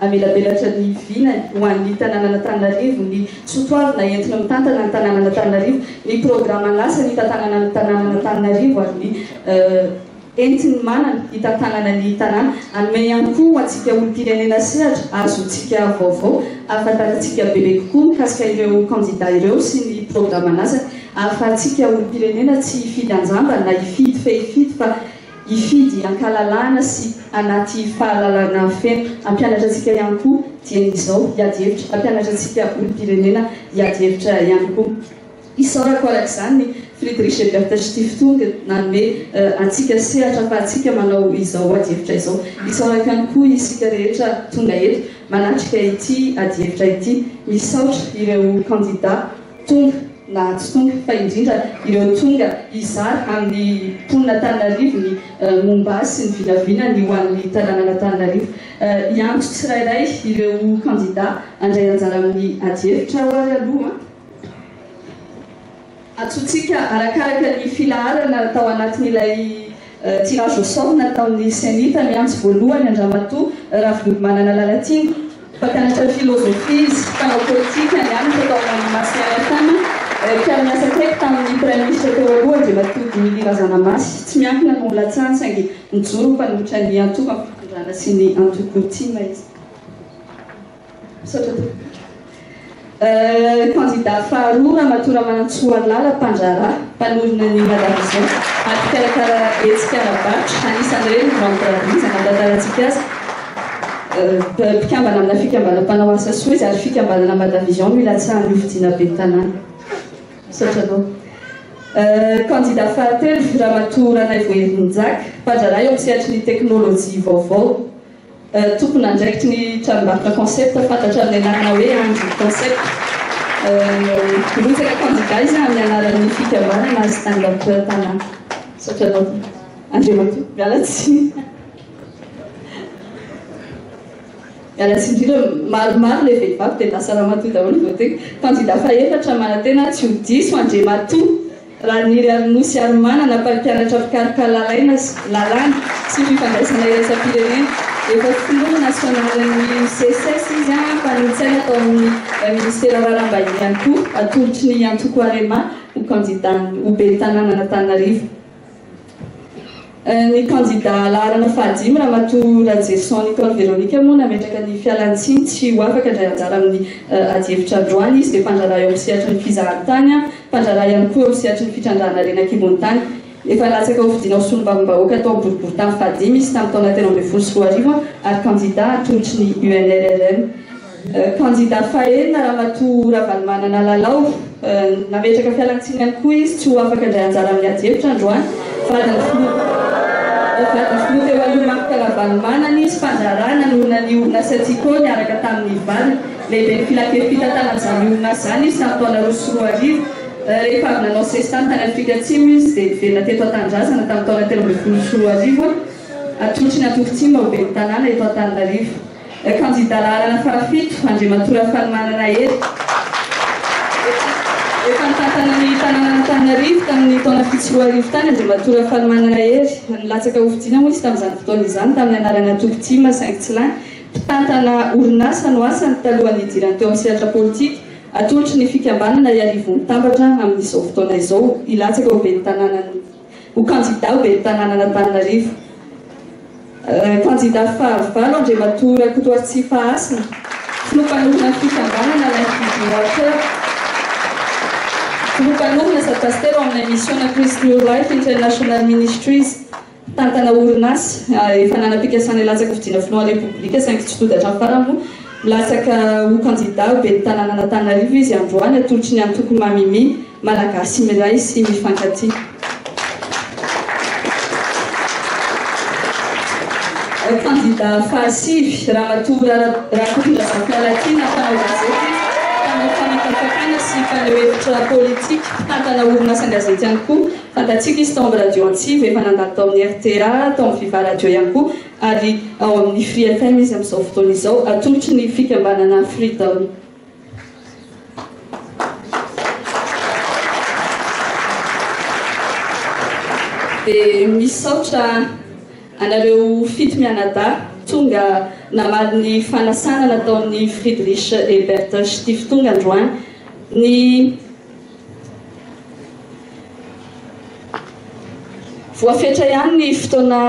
Hamelabelatra ny vinany ho an'ny tanànan'Antananarivo ny sotoavina entina mitantana ny tanànan'Antananarivo, ny programan'asa nitantanana ny tanànan'Antananarivo ary ny entiny manana hitantanana ny tanàna. Hanome ihany koa ho antsika olom-pirenena sehatra azontsika vaovao hahafantarantsika bebe kokoa mikasika ireo kandida ireo sy ny programan'asany, ahafahantsika olom-pirenena tsy hifidy anjamba na hifidy fehifidy fa. hifidy an-kalalahana sy anaty fahalalana feno. Hampianatra antsika ihany koa dieny izao hiady hevitra. Hampianatra antsika olom-pirenena hiady hevitra ihany koa. Isaorako araka izany ny Friedrich Ebert Stiftung nanome antsika sehatra afahantsika manao izao ady hevitra izao. Isaorako ihany koa isika rehetra tonga eto manatrika ity ady hevitra ity. Misaotra ireo kandida. Tonga, na tsy tonga, fa indrindra ireo tonga hizara amin'ny mponin'Antananarivo ny momba azy sy ny vinavinany ho an'ny tanànan'Antananarivo. Hiantso tsirairay ireo kandidà handray anjara amin'ny adihevitra aho ary aloha. Antsointsika arakaraka ny filaharana tao anatin'ilay Tsy raha voasorina tao amin'ny Cenit ny antso voalohany an-dRamatoa Ravololomanana Lalatiana, mpampianatra filôzôfia izy, mpanao pôlitika nianatra tao amin'ny Masy FM, mpiara-miasa akaiky tamin'ny Praiminisitra teo aloha Andriamatoa Dimily Razanamasy. Tsy miankina no nilatsahany saingy nijoro ho mpanolotra ny antoko amim-pitondrana sy ny antoko Tim izy. Misaotra tompoko. Kandida faharoa, Ramatoa Ramanantsoa Lala, mpandraharaha, mpanorina ny La Vision ary mpikarakara hetsika ara-barotra, anisan'ireny ny Vente Braderie izay nahatarantsika azy, mpikambana amina fikambanana mpanao asa soa izy ary fikambanana Mada Vision no ilatsahan'ny hofidiana ben'ny tanàna. Misaotra anao. Kandida fahatelo, Ramatoa Ranaivo Herinjaka, mpandraharaha eo amin'ny sehatry ny teknolojia vaovao, Tompon'andraikitry ny tranombarotra Concept fantatra amin'ny anarana hoe Andry Concept. Hirotsaka kandida izy amin'ny anaran'ny fikambanana Stand Up Tana. Misaotra anao tompoko. Andriamatoa, miala tsiny. Miala tsiny indrindra, maromaro ilay vehivavy dia lasa ramatoa daholo vao teny. Kandida fahefatra manantena tsy ho diso Andriamatoa. Raniry Arinosy Harimanana, mpampianatra mpikaroka lalaina sy lalàna sy fifandraisana iraisam-pirenena. Efa filoha nasionalin'ny Seces izy, mpanolotsaina tao amin'ny minisitera raharaham-bahiny ihany koa, atolotry ny antoko Arema ho kandidà ho ben'ny tanànan'Antananarivo. Ny kandida laharana fahadimy, Ramatoa Rajeson Nicole Veronica moa nametraka ny fialantsiny tsy ho afaka handray anjara amin'ny adihevitra androany. Izy dia mpandraharaha eo amin'ny sehatry ny fizahantany, mpandraharaha ihany koa eo amin'ny sehatry ny fitrandrahana harena an-kibon'ny tany. Efa latsaka ho fidiana ho solombavambahoaka tao amin'ny boriborintany fahadimy izy tamin'ny taona telo ambin'ny folo sy roa arivo ary kandida atolotry ny UNRRM. Kandida fahenina, Ramatoa Ravalomanana Lalao, nametraka fialantsiny ihany koa izy tsy ho afaka handray anjara amin'ny ady hevitra androany. Vadin'ny filoha vadin'ny filoha teo aloha Marc Ravalomanana izy fa niraharaha nanorina ny orinasa Tsiko niaraka tamin'ny vadiny. Lehiben'ny filankevi-pitantanana izany orinasa izany izy tamin'ny taona roa sy roa arivo. Rehefa avy nanao sesitany tany Afrika Atsimo izy dia niverina teto an-tanindrazana tamin'ny taona telo ambin'ny folo sy roa arivo, atolotry ny Antoko Tsimba ho ben'ny tanàna eto Antananarivo. Kandida laharana fahafito, Andriamatoa Rafalimanana Hery. Efa nitantana ny tanànan'Antananarivo tamin'ny taona fito sy roa arivo tany Andriamatoa Rafalimanana Hery. Nilatsaka hofidiana moa izy tamin'izany fotoana izany tamin'ny anarana Toky Tim saingy tsy lany. Mpitantana orinasa no asany talohan'ny hidirany teo amin'ny sehatra politika. Atolotry ny fikambanana Iarivo Mitambatra amin'izao fotoana izao hilatsaka ho ben'ny tanànan'ny. ho kandida ho ben'ny tanànan'Antananarivo. Kandida fahavalo Andriamatoa Rakotoaritsipa Hasina, filoha mpanohana ny fikambanana Life Giving Water, filoha mpanohana sady pasitera ao amin'ilay Missiona Christ New Life International Ministries, mpitantana orinasa efa nanam-pikasana hilatsaka fidiana filohan'ny Repoblika saingy tsy toda hatramin'ny farany moa milatsaka ho kandida ho ben'ny tanànan'Antananarivo izy androany atolotry ny antoko Mamimi. Malagasy miray sy mifankatia. Kandida fahasivy, Ramatoa Rakotondrazafy-Lalatiana, mpanao gazety, mpanao fanapakafana sy mpaneho hevitra politika, mpitantana orinasan-gazety ihany koa. Fantatsika izy tao amin'ny Radio Antsiva, efa nandalo tao amin'ny rta, tao amin'ny Viva Radio ihany koa ary ao amin'ny Free FM izy amin'izao fotoana izao, atolotry ny fikambanana Freedom. Dia misaotra anareo fito mianadahy tonga namaly ny fanasana nataon'i Friedrich Ebert Stieftung androany. Ny. Voafetra ihany ny fotoana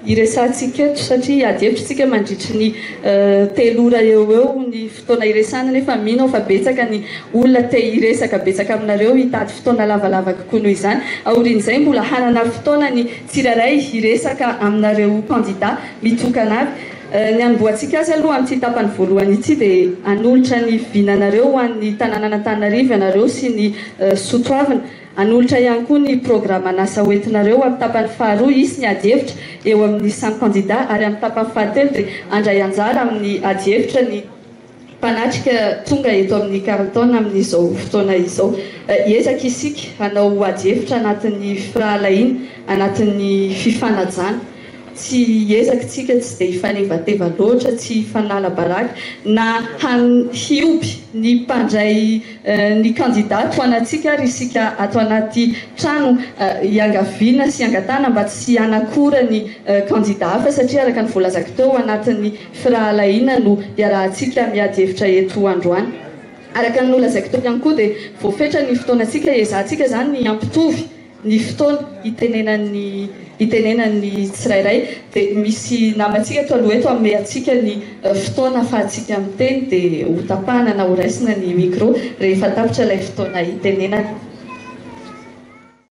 iresahantsika eto satria adihevitrintsika mandritry ny eh, telo ora eo eo ny fotoana iresahana nefa mino aho fa betsaka ny olona te hiresaka betsaka aminareo hitady fotoana lavalava kokoa noho izany. Aorian'izay mbola hanana fotoana ny tsirairay hiresaka aminareo kandida mitokana avy. Ny hanombohantsika azy aloha amin'ity tapany voalohany ity dia hanolotra ny vinanareo ho an'ny tanànan'Antananarivo ianareo sy ny soa toavina. Hanolotra ihany koa ny programan'asa hoentinareo amin'ny tapany faharoa hisy ny adihevitra eo amin'ny samy kandida ary amin'ny tapany fahatelo dia handray anjara amin'ny adihevitra ny Mpanatrika tonga eto amin'ny Carlton amin'izao fotoana izao. Hiezaka isika hanao adihevitra anatin'ny firahalahiana, anatin'ny fifanajana. Tsy hiezaka isika tsy dia hifanevateva loatra, tsy hifanala baraka na hioby ny mpandray ny kandida tohanantsika ary isika ato anaty trano hiangaviana sy hiangatahana mba tsy hanakora ny kandida hafa satria araka ny voalazako teo anatin'ny Firahalahiana no iarahantsika miady hevitra eto androany. Araka ny nolazaiko teo ihany koa dia voafetra ny fotoanantsika hiezahantsika izany ny hampitovy ny fotoana hitenenan'ny hitenenan'ny tsirairay. Dia misy namantsika eto aloha eto hanome antsika ny fotoana ahafahantsika miteny dia hotapahana na horaisina ny micro rehefa tapitra ilay fotoana hitenenana.